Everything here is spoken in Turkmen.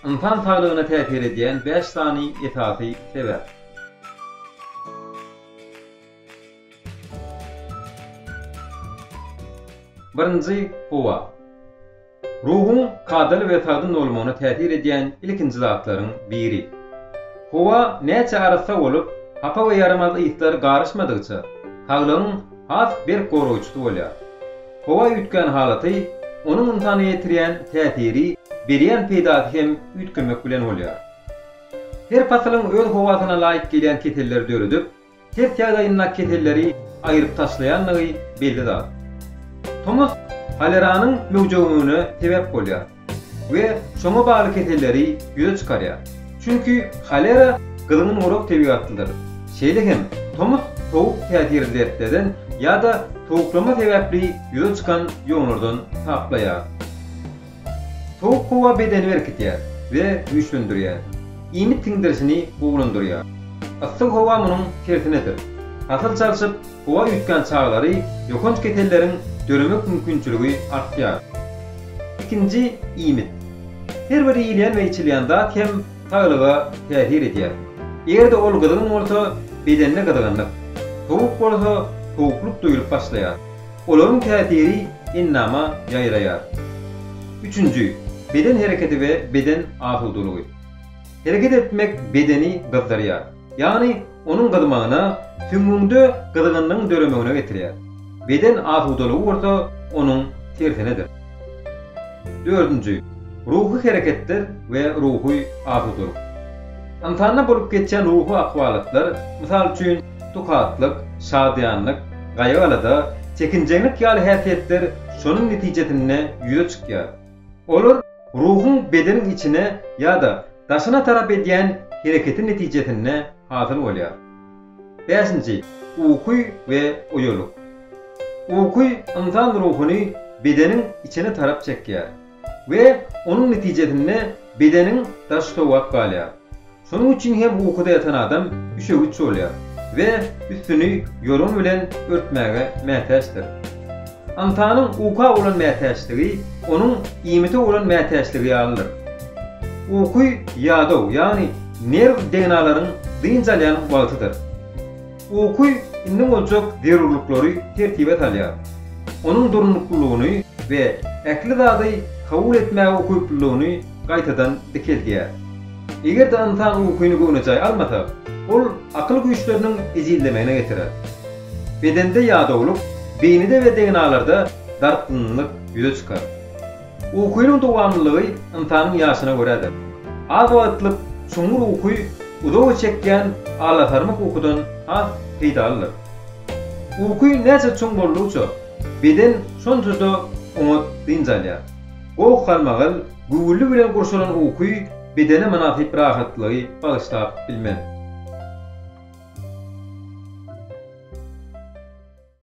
Ynsan saglygyna täsir edýän bäş sany esasy sebäp. Birinji, howa. Ruhuň kadaly we sagdyn bolmagyna täsir edýän ilkinji zatlaryň biri. Howa näçe arassa bolup, hapa we ýaramaz yslar garyşmadygyça, saglygyň has berk goragçysy bolýar. Howa üýtgän halaty, onuň ynsana ýetirýän täsiri, berýän peýdasy hem üýtgemek bilen bolýar. Her pasylyň öz howasyna laýyk gelýän keselleri döredip, ters ýagdaýyndaky keselleri aýryp taşlaýandygy belli zat. Tomus holeranyň möwjegmegine sebäp bolýar. we şoňa bagly keselleri ýüze çykarýar. Çünki holera gyzgyn gurak tebigatlydyr. Şeýle hem tomus sowuk täsirli dertlerden ýa-da sowuklama sebäpli ýüze çykan ýonlardan saplaýar. Sowuk howa bedeni berkidýär we güýçlendirýär, iýmit siňdirişini gowulandyrýar. Yssy howa munuň tersinedir. Hasyl çalşyp, Howa üýtgän çaglary ýokanç keselleriň döremek mümkinçiligi artýar. Ikinji iýmit. Her bir iýilýän we içilýän zat hem saglyga täsir edýär. Eger-de ol gyzgyn bolsa, bedende gyzgynlyk, sowuk bolsa, sowuklyk duýlup başlaýar. Olaryň täsiri endama ýaýraýar. Üçünji, beden hereketi we beden asudalygy. Hereket etmek bedeni gyzdyrýar. ýagny onuň gyzmagyna, süňňüňde gyzgynlygyň döremegine getirýär. Beden asudalygy bolsa onuň tersinedir. Dördünji, ruhy hereketler we ruhy asudalyk. Ynsanda bolup geçýän ruhy ahwalatlar, mysal üçin, tukatlyk, şadyýanlyk, gaýgy-alada, çekinjeňlik ýaly häsiýetler şonuň netijesinde ýüze çykýar. Olar ruhuň bedeniň içine ýa-da daşyna tarap edýän hereketi netijesinde hasyl bolýar. Bäşinji, uky we oýalyk. Uky ynsan ruhuny bedeniň içine tarap çekýär we onuň netijesinde bedeniň daşy sowap galýar. Şonuň üçin hem ukuda ýatan adam üşegiç bolýar we üstüni ýorgan bilen örtmäge mätäçdir. Ynsanyň uka bolan mätäçligi onuň iýmite bolan mätäçligi ýalydyr. Uky ýadaw, ýagny nerw degnalaryň dynç alýan wagtydyr. Uky indi boljak zerurlyklary tertibe salýar. Onuň durnuklylygyny we ähli zady kabul etmäge ukyplylygyny gaýtadan dikeldýär. Eger-de ynsan ukyny göwnejaý almasa, ol akyl güýçleriniň ejizlemegine getirer. Bedende ýadawlyk, beýnide we degnalarda dartgynlyk ýüze çykar. Ukynyň dowamlylygy ynsanyň ýaşyna görädir. Az wagtlyk çuňňur uky uzaga çekýän alasarmyk ukudan has peýdalydyr. Uky näçe çuň boldugyça, beden şonça-da oňat dynç alýar. Goh galmagal, güwwüli bilen gurşalan uky bedene mynasyp rahatlygy bagyşlap bilmez.